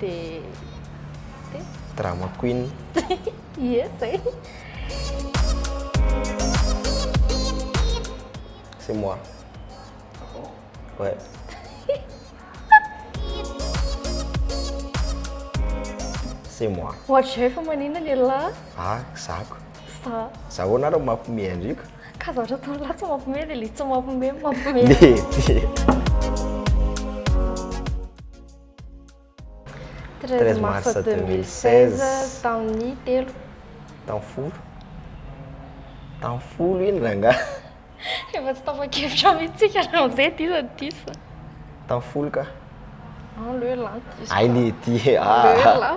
dia dia Drama queen. Ie zay. C'est moi. Ah bon? Ouais. C'est moi. Ohatrizay fa manina lehilahy. Ah, zako. Sa. Za ahoana ary mampiomehy andriko? Ka za ohatra tao lahy tsy mampiomehy dia ilay tsy mampiomehy no mampiomehy. Mety. 13 mars 2016 tamin'ny telo tamin'ny folo tamin'ny folo iny rangahy efa tsy tapa-kevitra mihitsika raha izay diso ny diso tamin'ny folo ka en le lan diso ay le ty ah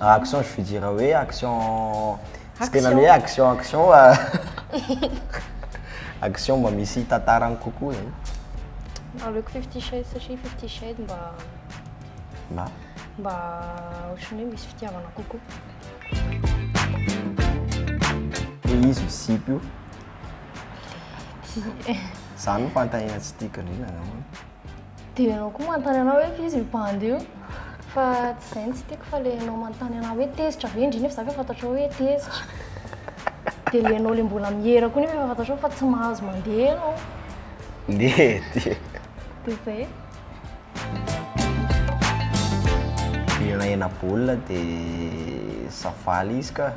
Action je veux dire hoe action tsy tena hoe action action fa action mba misy tantarany kokoa zany. Aleoko fifty shades satria fifty shades mba mba mba ohatran'ny hoe misy fitiavana kokoa. Ilay izy misipy io. Zany no fanontaniana tsy tiako indrindra angambany. Dia ianao koa manontany anao hoe f'iza io bandy io? Fa tsy izay no tsy tiako fa ilay ianao manontany anà hoe tezitra ve? Indrindra fa za efa fantatrao hoe tezitra. Dia ilay ianao ilay mbola miera koa nefa efa fantatrao fa tsy mahazo mandeha ianao. Dia dia. Dia izay. Mihinana hena baolina dia za faly izy ka.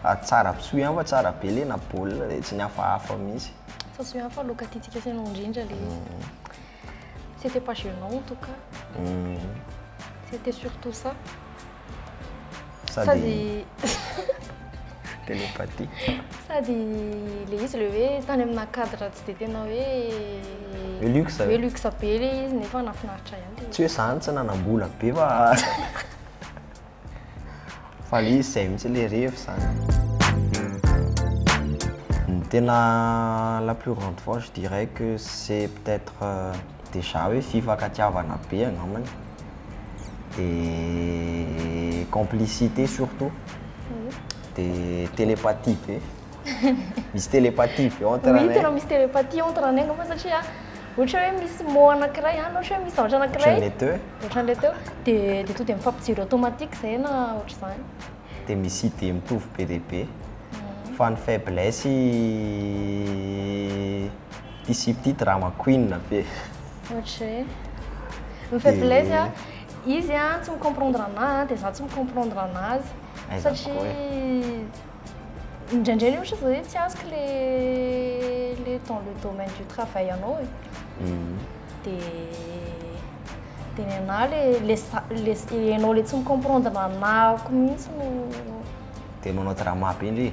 Ary tsara soa ihany fa tsara be ilay hena baolina dia tsy ny hafahafa mihitsy. Fa soa ihany fa laoka tiantsika sainao indrindra ilay izy. C'etait pas gênant en tout cas. C'etait surtout ça. Sady télépathie. Sady le izy le hoe tany amina cadre tsy dia tena hoe Hoe luxe. hoe luxe be le izy nefa nahafinaritra ihany le izy. Tsy hoe zany tsy nanam-bola be fa Fa izy izay mihitsy ilay revy izany. Ny tena la plus grande fois je dirais que c'est peut être déjà hoe fifankatiavana be angambany dia complicité surtout dia télépathie be. Misy télépathie ve entre anay? Oui, tena misy télépathie entre anay angamba satria ohatra hoe misy mot anankiray na ohatra hoe misy zavatra anankiray. Ohatran'ilay teo? Ohatran'ilay teo. Dia dia tonga dia mifampijery automatique izay na ohatr'izany. Dia misy idée mitovy be dia be. Fa ny faiblesse i ity sipa ity drama queen be. Ohatra hoe? Ny faiblesse a, izy a tsy mi-comprendre anahy dia izaho tsy mi-comprendre anazy satria. Indraindray le ohatra zao hoe tsy azoko le le dans le domaine du travail anao e. Mhm. De de ny anahy le le za- le s- ianao le tsy mi-comprendre anahako mihitsy no Tena anao drama be ndry.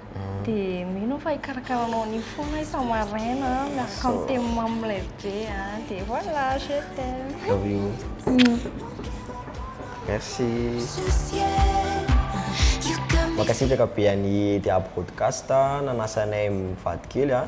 Dia mino aho fa hikarakaranao an'iny foana isa maraina miaraka amin'ny thème mamy lehibe an. Dia voilà, je t'aime. Love you. Merci. Mankasitraka be an'i Dia Broadcast nanasa anay mivady kely an.